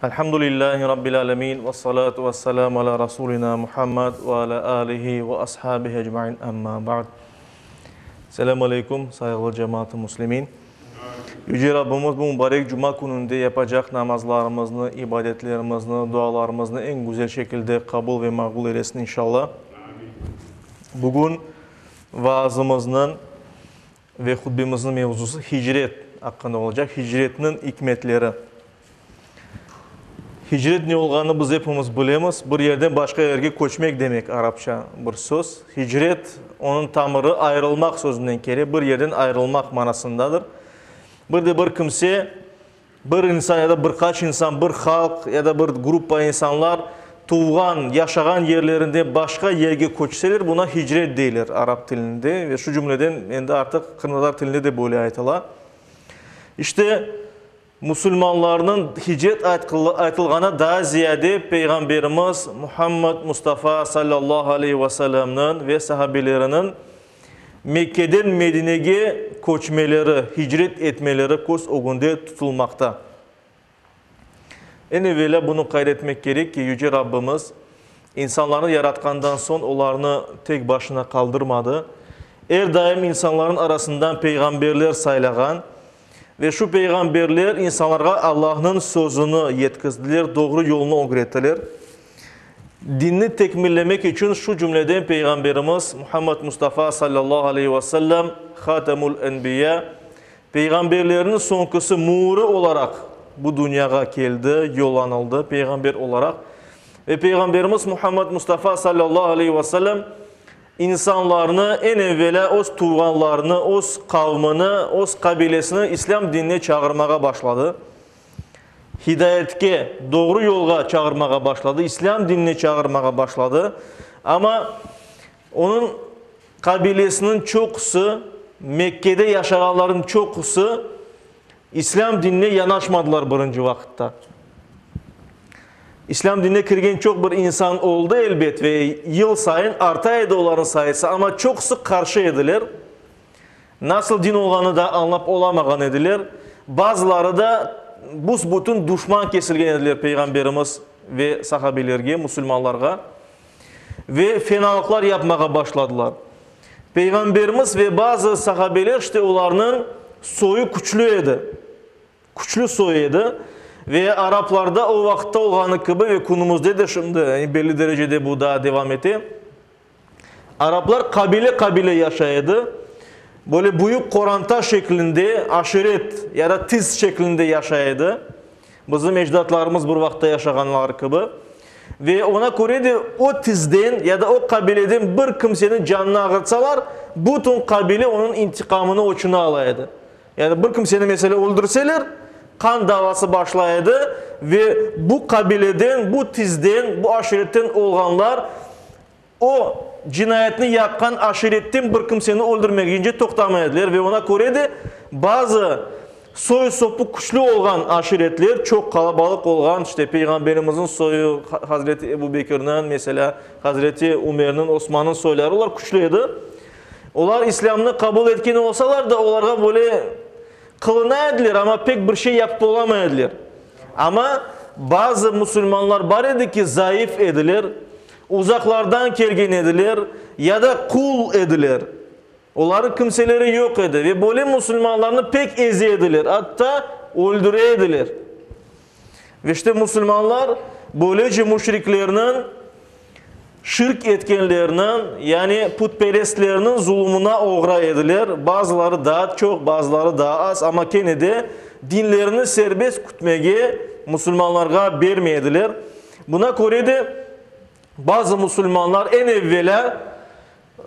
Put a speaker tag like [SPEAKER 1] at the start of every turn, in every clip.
[SPEAKER 1] Elhamdülillâhi Rabbil âlemin ve salâtu ve selâmu alâ Rasûlinâ Muhammed ve alâ âlihi ve ashâbihi ecmaîn. Emmâ ba'd. Selâm aleyküm, sayğılı cemaat-ı muslimin! Yüce Rabbimiz bu mübarek cuma kününde yapacaq namazlarımıznı, ibadetlerimizni, dualarımıznı eñ güzel şekilde qabul ve maqbul eylesin inşallah. Bugün Vaazımıznıñ ve hutbemizniñ mevzusı hicret aqqında olacaq, hicretniñ ikmetleri. Hicret ne olğanını biz epimiz bilemiz, bir yerden başqa yerge köçmek demek, arapça bir söz. Hicret, onıñ tamırı ayırılmaq sözünden kele, bir yerden ayırılmaq manasındadır. Bir de bir kimse Bir insan ya da bir qaç insan, bir halq ya da bir gruppa insanlar tuvğan, yaşağan yerlerinden başqa yerge köçseler, buna hicret deyler arap tilinde ve şu cümleden endi artıq qırımtatar tilinde de böyle aytıla. İşte, musulmanlarnıñ hicret aytılğanı daa ziyade Peyğamberimiz Muhammed Mustafa sallallahu aleyhi ve sellemniñ ve sahabeleriniñ Mekkeden Medinege köçmeleri, hicret etmeleri köz ögünde tutulmaqta. Eñ evelâ bunı qayd etmek kerek ki, Yüce Rabbimiz insanlarnı yaratqandan soñ olarnı tek başına qaldırmadı. Er daim insanlarnıñ arasından peyğamberler saylağan Ve şu peyğamberler insanlarğa Allahnıñ sözüni yetkizdiler, doğru yolnı ögrettiler. Dinni tekmillemek içün şu cümleden Peyğamberimiz Muhammed Mustafa sallallahu aleyhi ve sellem, Hatemul enbiya, peyğamberlerniñ soñkusı müürü olaraq bu dünyağa keldi, yollanıldı, peyğamber olaraq. Ve Peyğamberimiz Muhammed Mustafa sallallahu aleyhi ve sellem, İnsanlarnı, eñ evelâ öz tuvğanlarını, öz qavmini, öz qabilesini İslâm dinine çağırmağa başladı. Hidayetke, doğru yolğa çağırmağa başladı, İslâm dinine çağırmağa başladı. Amma onıñ qabilesiniñ çoqusı, Mekkede yaşağanlarnıñ çoqusı İslâm dinine yanaşmadılar birinci vaqıtta. İslâm dinine kirgen çoq bir insan oldı, elbet, ve yıl sayın arta edi olarnıñ sayısı, amma çoqusı qarşı ediler. Nasıl din olğanını da añlap olamağan ediler. Bazıları da büs-bütün duşman kesilgen ediler Peyğamberimiz ve sahabiylerge, musulmanlarğa. ve fenalıqlar yapmağa başladılar. Peyğamberimiz ve bazı sahabeler işte olarnıñ soyu küçlü edi, küçlü soy edi ve araplarda o vaqıtta olğanı kibi ve künümüzde de şimdi yani belli derecede bu daa devam ete, araplar qabile-qabile yaşay edi, böyle büyük qoranta şeklinde aşiret ya da tiz şeklinde yaşay edi. Bizim ecdatlarımız bir vaqıtta yaşağanlar kibi, ve oña köre de o tizden ya da o qabileden bir kimseniñ canını ağırtsalar, bütün qabile onıñ intiqamını oçuna ala edi. Yani bir kimseni mesele öldürseler, qan davası başla edi ve bu qabileden, bu tizden, bu aşiretten olğanlar O, cinayetni yapqan aşiretten bir kimseni öldürmek ince toqtamay ediler ve ona köre de bazı soy-sopu küçlü olğan aşiretler çoq qalabalıq olğan, işte, Peyğamberimizniñ soyu, Hazreti Ebu Bekirniñ, meselâ, Hazreti Ümerniñ, Osmannıñ soyları, olar küçlü edi. Olar İslâmnı qabul etken olsalar da, olarğa böyle qılına ediler, amma pek bir şey yapıp olamay ediler. Amma bazı musulmanlar bar edi ki, zayıf ediler. Uzaqlardan kelgen ediler ya da qul ediler. Olarnıñ kimseleri yoq edi ve böyle musulmanlarnı pek eze ediler, atta öldüre ediler. Ve işte musulmanlar böylece müşriklerniñ, şirk etkenlerniñ, yani putperestlerniñ zulumına oğra ediler, bazıları daa çoq, bazıları daa az, amma kene de dinlerini serbest kütmege musulmanlarğa bermey ediler. Buna köre de, bazı musulmanlar eñ evvelâ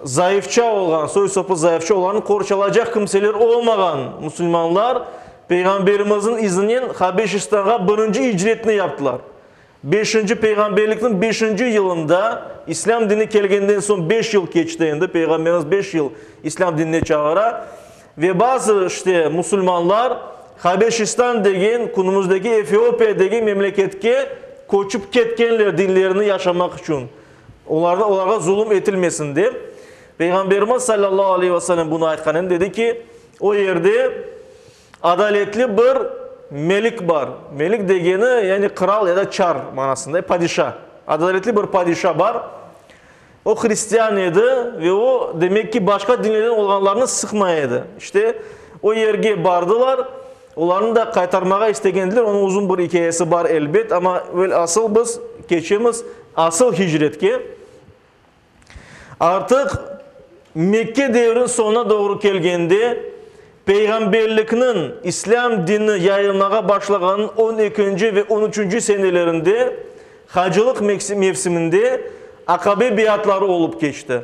[SPEAKER 1] zayıfça olğan, soy-sopı zayıfça olğan, qorçalacaq kimseler olmağan musulmanlar Peyğamberimizniñ izinen Habeşistanğa birinci icretini yaptılar. Beşinci peyğamberlikniñ beşinci yılında, İslâm dini kelgeninden soñ beş yıl keçti endi, Peyğamberimiz beş yıl İslâm dinine çağıra, Ve bazı işte musulmanlar Habeşistan degen, künümizdeki Efiopiya degen memleketke köçip ketkenler dinlerini yaşamaq içün, olarnı, olarğa zulum etilmesin dep. Peyğamberimiz sallallahu aleyhi ve sellem bunı aytqanında dedi ki, o yerde adaletli bir melik bar. Melik degeni, yani kral ya da çar manasında, padişa. Adaletli bir padişa bar. O hristian edi ve o, demek ki, başqa dinlerden olğanlarnı sıqmay edi. İşte, o yerge bardılar, olarnı da qaytarmağa istegendiler. Onıñ uzun bir ikâyesi bar, elbet, amma evel asıl biz keçemiz asıl hicretke. Artıq Mekke devrin soñuna doğru kelgende, Peyğamberlikniñ, islâm dini yayılmağa başlağanıñ on ekinci ve on üçünci senelerinde hacılıq mevsiminde Aqabe beyatları olıp keçti.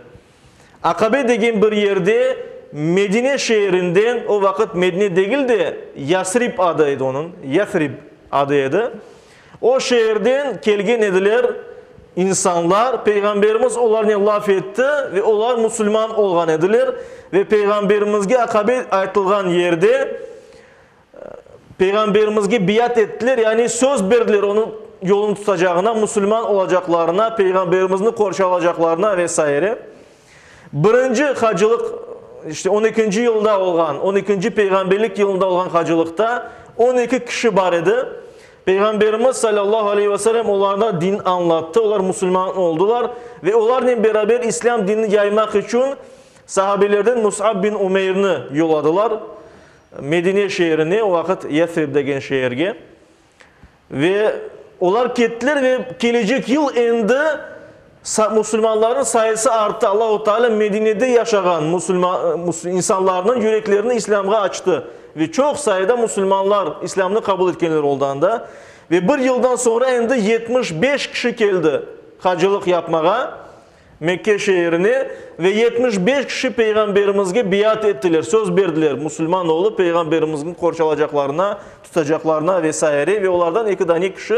[SPEAKER 1] Aqabe degen bir yerde Medine şeerinden, o vaqıt Medine degil de, Yasrib adı edi onıñ, Yathrib adı edi, O şeerden kelgen ediler, insanlar, Peyğamberimiz olarnen laf etti ve olar musulman olğan ediler, ve Peyğamberimizge aqabet aytılğan yerde Peyğamberimizge biyat ettiler, yani söz berdiler onıñ yolun tutacağına, musulman olacaqlarına, Peyğamberimizni qorşalacaqlarına ve saire. Birinci hacılıq, işte, on ekinci yılda olğan, on ekinci peyğamberlik yılında olğan hacılıqta on eki kişi bar edi. Peyğamberimiz salâllahu aleyhi ve selem olarğa din añlattı, olar musulman oldılar ve olarnen beraber islâm dinini yaymaq içün sahabelerden Mus'ab bin Umeyrni yolladılar Medine şeerine, o vaqıt Yathrib degen şeerge. Ve olar kettiler ve kelecek yıl endi sa, musulmanlarnıñ sayısı arttı. Allahu Teala Medinede yaşağan musulma, mus, insanlarnıñ yüreklerini İslâmğa açtı. Ve çoq sayıda musulmanlar İslâmnı qabul etkenler oldı anda. Ve bir yıldan soñra endi yetmiş beş kişi keldi hacılıq yapmağa. Mekke şeerine, ve yetmiş beş kişi Peyğamberimizge beyat ettiler, söz berdiler, musulman olıp, Peyğamberimizgn qorçalacaqlarına, tutacaqlarına ve saire, ve olardan eki dane kişi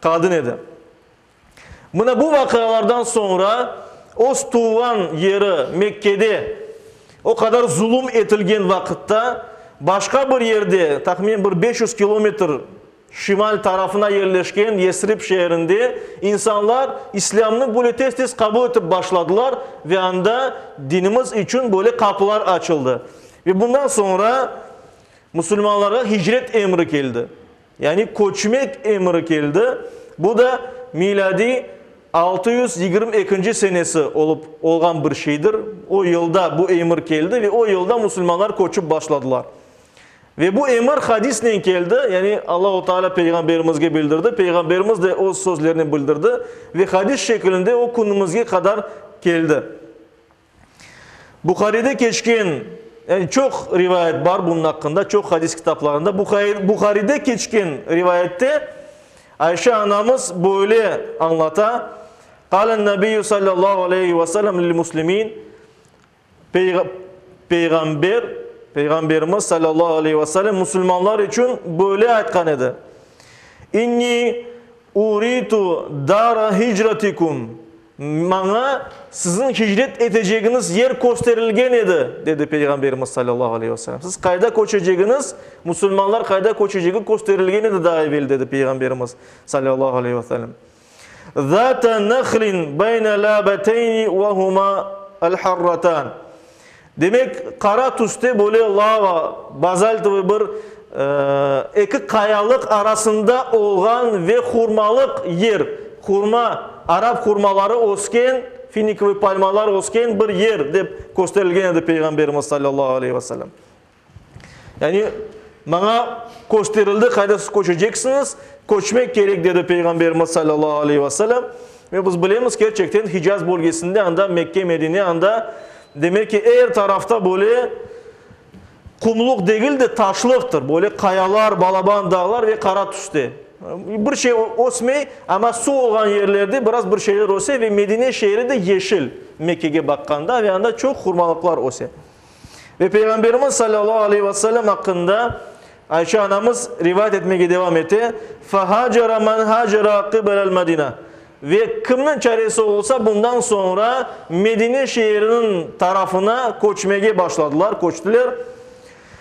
[SPEAKER 1] qadın edi. Mına bu vaqialardan soñra öz tuvğan yeri Mekkede o qadar zulum etilgen vaqıtta, başqa bir yerde, tahminen bir beş yüz kilometr, Şimal tarafına yerleşken Yesrib şeerinde insanlar İslâmnı böyle tez-tez qabul etip başladılar ve anda dinimiz içün böyle qapılar açıldı. Ve bundan soñra musulmanlarğa hicret emri keldi, yani köçmek emri keldi, bu da milâdiy altı yüz yigirmi ekinci senesi olıp olğan bir şeydir. O yılda bu emir keldi ve o yılda musulmanlar köçip başladılar. Ve bu emir hadisnen keldi, yani Allahu Teala Peyğamberimizge bildirdi, Peyğamberimiz de öz sözlerinen bildirdi ve hadis şekilinde o künümizge qadar keldi. Buharide keçken, yani çoq rivayet bar bunun aqqında, çoq hadis kitaplarında, Buharide keçken rivayette Ayşe anamız böyle añlata, Qâlen Nebiyyü Sallallahu Aleyhi ve Sellem lil-Muslimin, Peyğamber, Peyğamberimiz salâllahu aleyhi ve selem musulmanlar içün böyle aytqan edi, İnni uritu dara hicratikum, Maña siziñ hicret etecegiñiz yer kösterilgen edi, dedi Peyğamberimiz salâllahu aleyhi ve selem. Siz qayda köçecegiñiz, musulmanlar qayda köçecegi kösterilgen edi daa evel, dedi Peyğamberimiz salâllahu aleyhi ve selem. Zâta nahlin beyne lâbeteyni ve huma el-harratan. Demek, qara tüste böyle lava, bazaltovoy bir, eki qayalıq arasında olğan ve hurmalıq yer, hurma, arap hurmaları ösken, finikovoy palmalar ösken bir yer, dep kösterilgen edi Peyğamberimiz sallallahu aleyhi ve sellem. Yani, maña kösterildi, qaydasız köçeceksiñiz, köçmek kerek, dedi Peyğamberimiz salâllahu aleyhi ve selem. Ve biz bilemiz, kerçekten Hicaz bölgesinde, anda Mekke, Medine, anda, demek ki, er tarafta böyle qumluq degil de, taşlıqtır, böyle qayalar, balaban dağlar ve qara tüste. Bir şey ösmey, amma suv olğan yerlerde biraz bir şeyler öse ve Medine şeeri de yeşil, Mekkege baqqanda, ve anda çoq hurmalıqlar öse. Ve Peyğamberimiz salâllahu aleyhi ve sellem aqqında Ayşe anamız rivayet etmege devam ete, Fehâcere men hâcere qibelel Medine, Ve kimniñ çaresi olsa bundan soñra Medine şeeriniñ tarafına köçmege başladılar, köçtiler.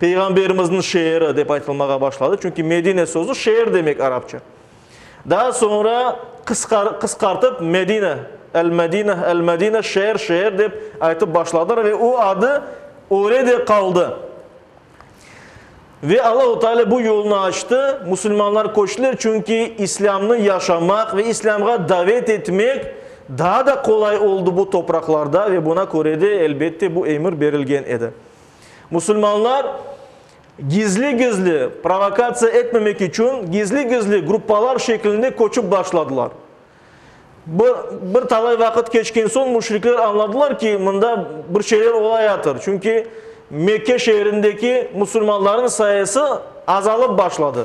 [SPEAKER 1] Peyğamberimizniñ şeeri dep aytılmağa başladı, çünki Medine sözü şeer demek arapça. Daa soñra qısqartıp Medine, El-Medineh, El-Medineh, şeer, şeer dep aytıp başladılar ve o adı öyle de qaldı. Ve Allahu Teala bu yolnı açtı, musulmanlar köçtiler, çünki İslâmnı yaşamaq ve İslâmğa davet etmek daa da qolay oldı bu topraqlarda ve buna köre de, elbette, bu emir berilgen edi. Musulmanlar gizli-gizli, provokatsiya etmemek içün, gizli-gizli gruppalar şeklinde köçip başladılar. Bir bir talay vaqıt keçken soñ müşrikler añladılar ki, mında bir şeyler olayatır, çünki Mekke şeerindeki musulmanlarnıñ sayısı azalıp başladı.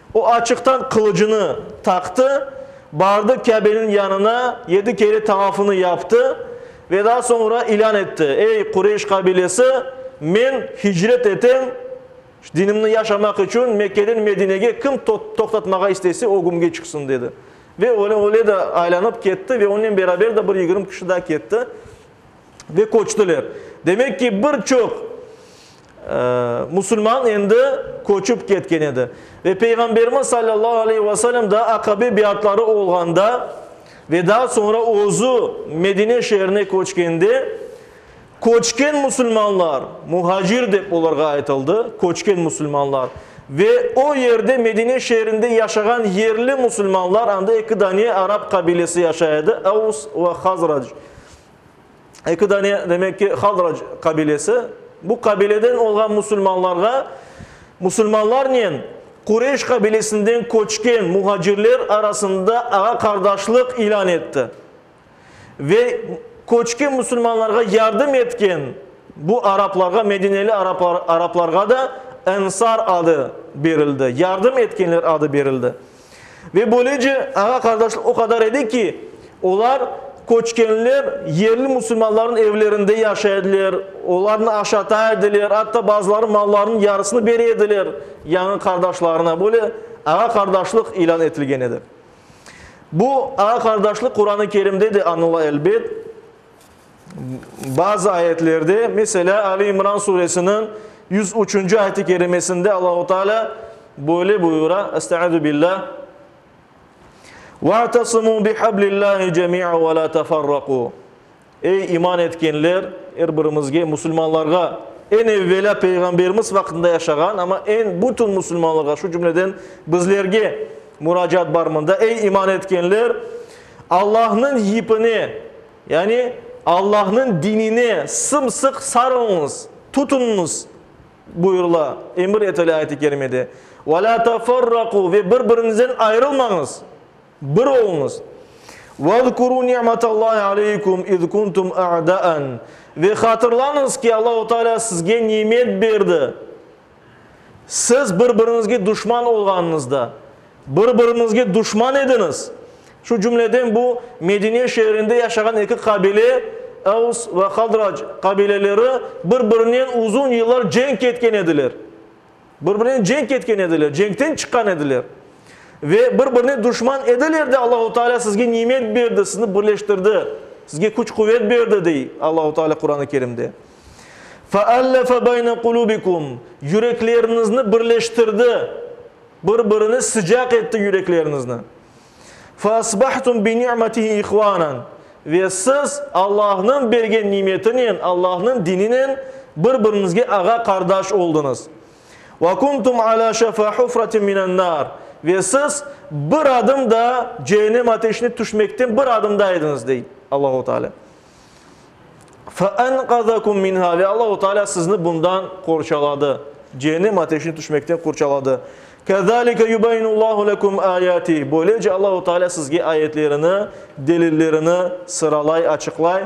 [SPEAKER 1] O açıqtan qılıcını taqtı, bardı Kâbeniñ yanına, yedi kere tavafını yaptı ve daa soñra ilân etti, Ey, Qureyş qabilesi, men hicret etem, dinimni yaşamaq içün Mekkeden Medinege kim toqtatmağa istese, o gümge çıqsın, dedi. Ve öyle de aylanıp ketti ve onen beraber de bir yigirmi kişi daa ketti ve köçtiler. Demek ki, bir çoq. Musulman endi köçip ketken edi. Ve Peyğamberimiz sallallahu aleyhi ve sellem daa Aqabe beyatları olğanda ve daa soñra özü Medine şeerine köçkende, köçken musulmanlar, muhacir dep olarğa aytıldı, köçken musulmanlar, ve o yerde, Medine şeerinde yaşağan yerli musulmanlar, anda eki dane arap qabilesi yaşay edi, Avs ve Hazrac, Eki dane, demek ki, Hadrac qabilesi. Bu qabileden olğan musulmanlarğa musulmanlarnen Qureyş qabilesinden köçken muhacirler arasında ağa-qardaşlıq ilân etti. Ve köçken musulmanlarğa yardım etken bu araplarğa, medineli araplarğa da Ensar adı berildi, yardım etkenler adı berildi. Ve böylece ağa-qardaşlıq o qadar edi ki, olar, köçkenler, yerli musulmanlarnıñ evlerinde yaşay ediler, olarnı aşata ediler, atta bazıları mallarınıñ yarısını bere ediler yañı qardaşlarına. Böyle ağa-qardaşlıq ilân etilgen edi. Bu ağa-qardaşlıq Quran-ı Kerimde de añıla, elbet. Bazı ayetlerde, meselâ, Ali İmran suresiniñ yüz üçünci ayet-i kerimesinde Allahu Teala böyle buyura, Estaizu billâh, Ve'tesımû bihablillâhi cemî'a ve lâ teferrakû Ey, iman etkenler, er birimizge, musulmanlarğa, eñ evvelâ Peyğamberimiz vaqtında yaşağan, amma eñ bütün musulmanlarğa, şu cümleden bizlerge muracaat bar mında, Ey, iman etkenler, Allahnıñ yipine, Yani, Allahnıñ dinine sımsıq sarılıñız, tutunıñız, buyurıla, emir etile ayet-i kerimede. Ve lâ teferrakû, ve bir-biriñizden ayırılmañız, bir oluñız. Vezkurû ni'metallahi aleykum iz kuntum a'dâen, ve hatırlañız ki, Allahu Teala sizge nimet berdi, Siz bir-biriñizge duşman olğanıñızda, bir-biriñizge duşman ediñiz. Şu cümleden bu Medine şeerinde yaşağan eki qabile, Evs ve Hadrac qabileleri bir-birinen uzun yıllar cenk etken ediler. Bir-birinen cenk etken ediler, cenkten çıqqan ediler. Ve bir-birine duşman ediler de, Allahu Teala sizge nimet berdi, sizni birleştirdi, sizge küç-quvet berdi, dey Allahu Teala Quran-ı Kerimde. Feallefe beyne qulubikum, yürekleriñizni birleştirdi, bir-birine sıcaq etti yürekleriñizni. Feasbahtum bi ni'metihi ihvanen, ve siz Allahnıñ bergen nimetinen, Allahnıñ dininen bir-biriñizge ağa-qardaş oldıñız. Ve kuntum ala şafa hufratin minennar, ve siz bir adım da cehennem ateşine tüşmekten bir adımda ediñiz, dey Allahu Teala. Fe enqazakum minha, ve Allahu Teala sizni bundan qorçaladı, Cehennem ateşine tüşmekten qorçaladı. Kezalike yubeyyinullahu lekum ayatih, böylece Allahu Teala sizge ayetlerini, delillerini sıralay, açıqlay.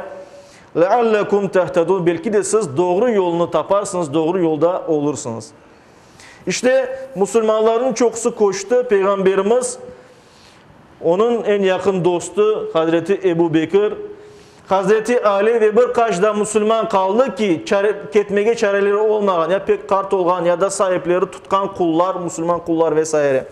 [SPEAKER 1] Leallekum tehtedun, belki de siz doğru yolunu taparsınız, doğru yolda olursınız. İşte, musulmanlarnıñ çoqusı köçti, Peyğamberimiz, Onıñ eñ yaqın dostu hazreti Ebu Bekir, hazreti Ali ve bir qaç da musulman qaldı ki, ketmege çareleri olmağan, ya pek qart olğan, ya da saipleri tutqan qullar, musulman qullar ve saire.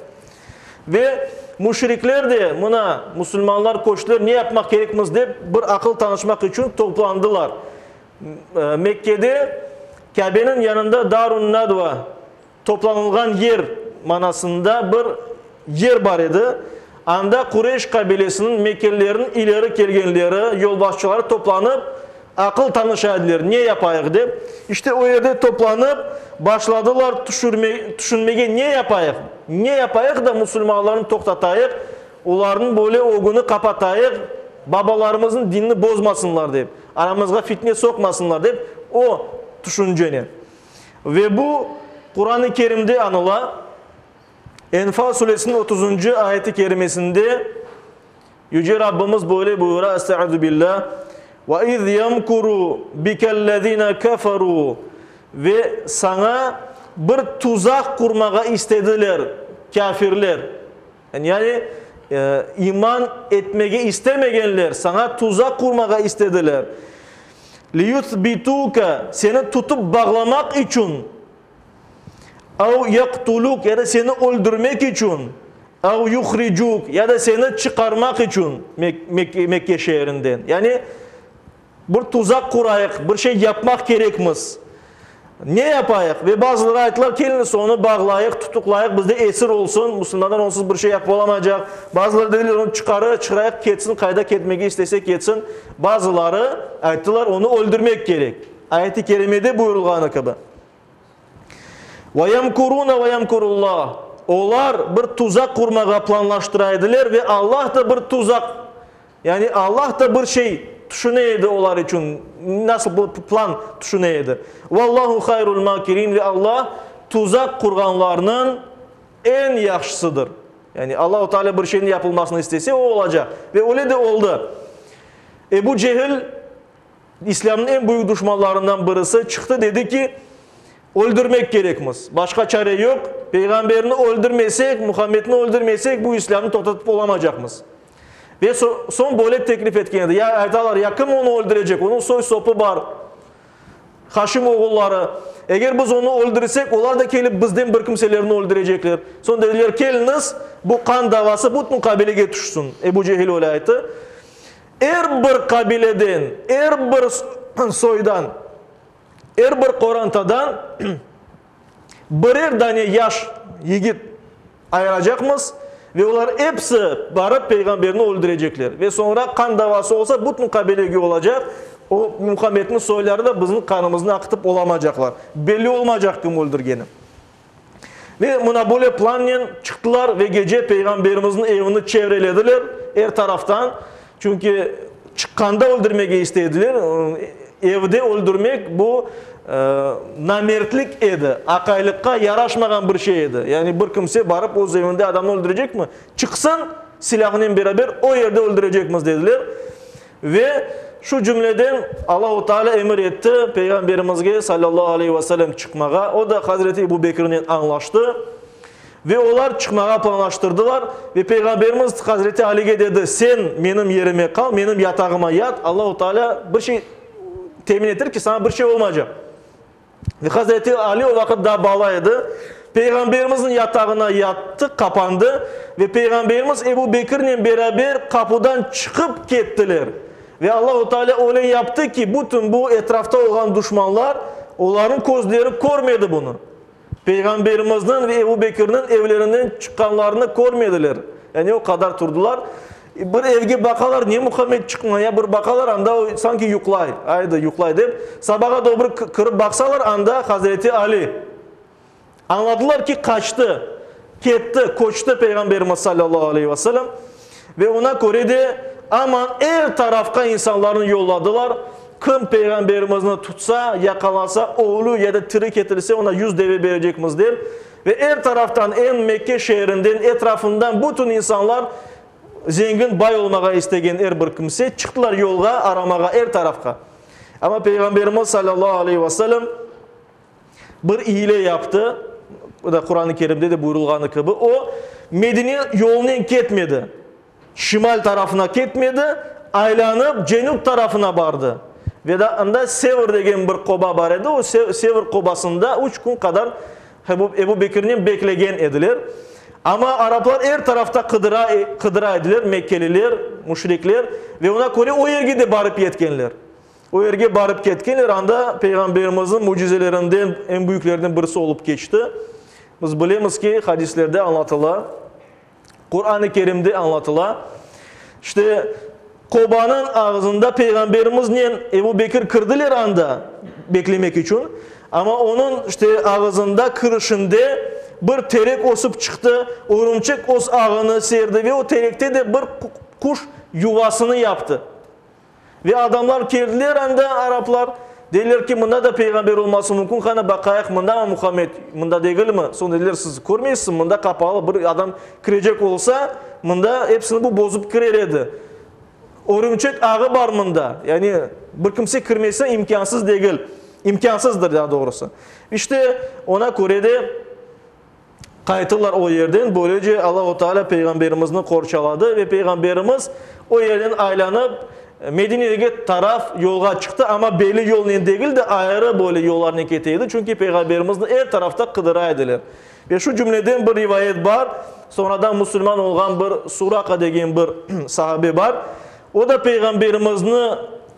[SPEAKER 1] Ve müşrikler de mına musulmanlar köçtiler, ne yapmaq kerekmiz dep bir aqıl tanışmaq içün toplandılar. Mekkede Kâbeniñ yanında Darun-Nadva, Toplanılğan yer manasında bir yer bar edi, anda Qureyş qabilesiniñ mekkelleriniñ ileri kelgenleri, yolbaşçıları toplanıp, aqıl tanışa ediler, ne yapayıq dep. İşte, o yerde toplanıp, başladılar tüşünmege, ne yapayıq, ne yapayıq da musulmanlarnı toqtatayıq, olarnıñ böyle ögüni qapatayıq, babalarımıznıñ dinini bozmasınlar dep, aramızğa fitne soqmasınlar dep, o tüşünceni. Ve bu, Quran-ı Kerimde añıla. Enfal suresiniñ otuzuncı ayet-i kerimesinde Yüce Rabbimiz böyle buyura, Estağuzubillah, Ve iz yemkuru bikellezine keferu Ve saña bir tuzaq qurmağa istediler kâfirler. Yani, iman etmege istemegenler saña tuzaq qurmağa istediler. Liyuthbituke, seni tutıp bağlamaq içün, ev yaqtuluk, ya da seni öldürmek içün, ev yuhricuk, ya da seni çıqarmaq içün Mekke şeerinden. Yani, Bir tuzaq qurayıq, bir şey yapmaq kerekmiz. Ne yapayıq? Ve bazıları ayttılar, keliñiz, onı bağlayıq, tutuqlayıq, bizde esir olsun, musulmanlar onsuz bir şey yapıp olamaycaq. Bazıları dediler, onı çıqarı, çıqrayıq, ketsin, qayda ketmege istese ketsin. Bazıları ayttılar, onı öldürmek kerek, ayet-i kerimede buyurılğanı kibi. Ve yemkurune ve yemkurullah, olar bir tuzaq qurmağa planlaştıra ediler ve Allah da bir tuzaq, yani Allah da bir şey tüşüne edi olar içün, nasıl bir plan tüşüne edi. Vallahu hayrul makirin, ve Allah tuzaq qurğanlarnıñ eñ yahşısıdır. Yani Allahu Teala bir şeyniñ yapılmasını istese, o olacaq. Ve öyle de oldı. Ebu Cehil. İslâmnıñ eñ büyük duşmanlarından birisi çıqtı, dedi ki, Öldürmek kerekmiz. Başqa çare yoq. Peyğamberni öldürmesek, Muhammedni öldürmesek, bu İslâmnı toqtatıp olamacaqmız. Ve soñ böyle teklif etken edi, Ya, aytalar, ya kim onı öldürecek? Onıñ soy-sopu bar, Haşim oğulları. Eger biz onı öldürsek, olar da kelip bizden bir kimselerni öldürecekler. Soñ dediler, Keliñiz, bu qan davası bütün qabilege tüşsün. Ebu Cehil öyle ayttı. Er bir qabileden, er bir soydan, er bir qorantadan birer dane yaş yigit ayıracaqmız ve olar episi barıp peyğamberni öldürecekler. Ve soñra qan davası olsa bütün qabilege olacaq, o Muhammedniñ soyları da bizim qanımıznı aqıtıp olamacaqlar. Belli olmayacaq kim öldürgeni. Ve mına böyle plannen çıqtılar ve gece Peyğamberimizniñ evini çevrelediler er taraftan. Çünki çıqqanda öldürmege isteydiler. Evde öldürmek bu namertlik edi, aqaylıqqa yaraşmağan bir şey edi. Yani bir kimse barıp öz evinde adamnı öldürecekmi? Çıqsın, silâhınen beraber o yerde öldürecekmiz, dediler. Ve, şu cümleden, Allahu Taalâ emir etti Peyğamberimizge, salâllahu aleyhi ve selem, çıqmağa, o da hazreti Ebu Bekirnen añlaştı. Ve olar çıqmağa planlaştırdılar. Ve Peyğamberimiz hazreti Alige dedi, Sen menim yerime qal, menim yatağıma yat, Allahu Taalâ bir şey temin etir ki, saña bir şey olmaycaq. Hazreti Ali o vaqıt daa bala edi. Peyğamberimizniñ yatağına yattı, qapandı ve Peyğamberimiz Ebu Bekirnen beraber qapudan çıqıp kettiler. Ve Allahu Taalâ öyle yaptı ki, bütün bu etrafta olğan duşmanlar, olarnıñ közleri körmedi bunı. Peyğamberimizniñ ve Ebu Bekirniñ evlerinden çıqqanlarını körmediler. Yani o qadar turdılar. Bir evge baqalar, ne Muhammed çıqqna ya, bir baqalar, anda o sanki yuqlay, ayda yuqlay dep, sabağa dobru kirip baqsalar, anda Hazreti Ali. Añladılar ki, qaçtı, ketti, köçti Peyğamberimiz salâllahu aleyhi ve selem. Ve oña köre de aman er tarafqa insanlarnı yolladılar, kim Peyğamberimizni tutsa, yaqalasa, ölü ya da tiri ketilse, oña yüz deve berecekmiz dep, Ve er taraftan, eñ Mekke şeerinden, etrafından bütün insanlar, zengin, bay olmağa istegen er bir kimse, çıqtılar yolğa, aramağa er tarafqa. Amma Peyğamberimiz salâllahu aleyhi ve selem bir iyile yaptı, o da Quran-ı Kerimde de buyurılğanı kibi, o, Medine yolunen ketmedi. Şimal tarafına ketmedi, aylanıp cenüp tarafına bardı. Ve da anda Sevr degen bir qoba bar edi, o Sevr qobasında üç kün qadar Ebu Bekirnen beklegen ediler. Amma araplar er tarafta qıdıra, qıdıra ediler, mekkeliler, müşrikler, ve oña köre o yerge de barıp yetkenler. O yerge barıp ketkenler, anda Peyğamberimizniñ mücizelerinden, eñ büyüklerden birisi olıp keçti. Biz bilemiz ki, hadislerde añlatıla. Quran-ı Kerimde añlatıla, İşte, qobanıñ ağzında Peyğamberimiznen Ebu Bekir kirdiler anda beklemek içün, amma onıñ, işte, ağzında kirişinde bir terek ösip çıqtı, örümçek öz ağını serdi ve o terekte de bir quş yuvasını yaptı. Ve adamlar keldiler, anda araplar, dediler ki, mında da peyğamber olması mümkün, qani baqayıq, mındamı Muhammed, mında degilmi? Soñ dediler, siz körmeysiz, mında qapalı, bir adam kirecek olsa, mında epsini bu bozıp kirer edi. Örümçek ağı bar mında, yani bir kimse kirmesi imkânsız degil, imkânsızdır, daa doğrusı. İşte, ona köre de. Qayttılar o yerden, böylece Allahu Teala Peyğamberimizni qorçaladı ve Peyğamberimiz o yerden aylanıp, Medinege taraf yolğa çıqtı, amma belli yolnen degil de, ayrı böyle yollarnen kete edi, çünki Peyğamberimizni er tarafta qıdıra ediler. Ve şu cümleden bir rivayet bar, soñradan musulman olğan bir Suraqa degen bir sahabe bar, o da Peyğamberimizni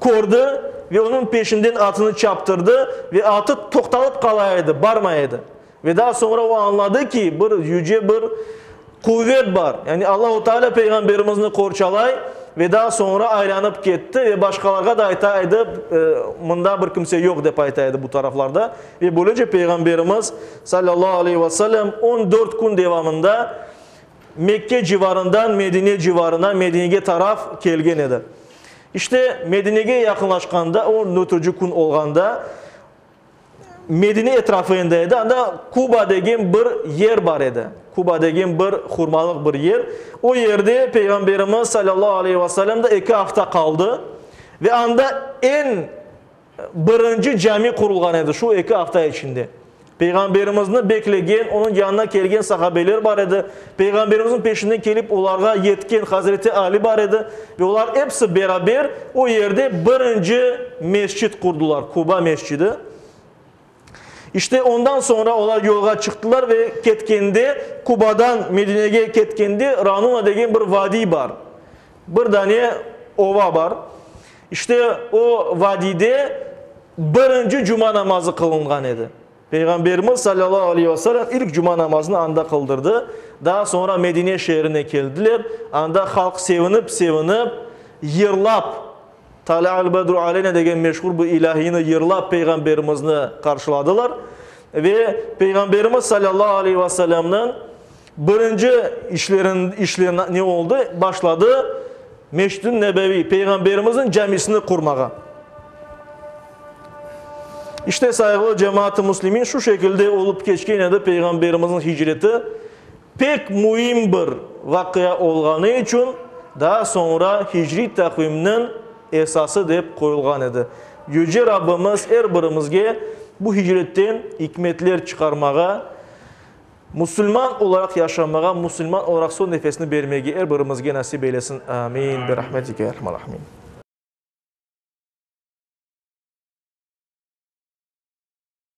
[SPEAKER 1] kördi ve onıñ peşinden atını çaptırdı ve atı toqtalıp qala edi, barmay edi. Ve daa soñra o añladı ki, bir yüce bir quvet bar, yani Allahu Teala Peyğamberimizni qorçalay, ve daa soñra aylanıp ketti ve başqalarğa da ayta edi, Mında bir kimse yoq, dep ayta edi bu taraflarda. Ve böylece Peyğamberimiz, sallallahu aleyhi ve sellem, on dört kün devamında Mekke civarından Medine civarına, Medinege taraf kelgen edi. İşte, Medinege yaqınlaşqanda, on dörtünci kün olğanda, Medine etrafında edi, anda Kuba degen bir yer bar edi. Kuba degen bir hurmalıq bir yer. O yerde Peyğamberimiz salâllahu aleyhi ve selâm da eki afta qaldı. Ve anda eñ birinci cami qurulğan edi şu eki afta içinde. Peyğamberimizni beklegen, onıñ yanına kelgen sahabeler bar edi. Peyğamberimizniñ peşinden kelip olarğa yetken Hazreti Ali bar edi ve olar episi beraber o yerde birinci mescit qurdılar, Quba mescidi. İşte ondan soñra olar yolğa çıqtılar ve ketkende, Qubadan Medinege ketkende Ranuna degen bir vadiy bar, bir dane ova bar. İşte o vadiyde birinci cuma namazı qılınğan edi. Peyğamberimiz salâllahu aleyhi ve selâm ilk cuma namazını anda qıldırdı. Daa soñra Medine şeerine keldiler. Anda halq sevinip-sevinip, yırlap, Talâ'al bedru aleynâ degen meşhur bu ilâhiyni yırlap Peyğamberimizni qarşıladılar. Ve Peyğamberimiz salâllahu aleyhi ve selâmnıñ Birinci işleri ne oldı? Başladı Mescid-i Nebeviy, Peyğamberimizniñ camisini qurmağa. İşte, sayğılı cemaat-ı muslimin, şu şekilde olıp keçken edi Peyğamberimizniñ hicreti. Pek müim bir vaqia olğanı içün daa soñra hicriy taqvimniñ esası dep qoyulğan edi. Yüce Rabbimiz er birimizge bu hicretten ikmetler çıqarmağa, Musulman olaraq yaşamağa, musulman olaraq son nefesni bermege er birimizge nasip eylesin. Amin. Bi rahmetike ya erhamar rahimin.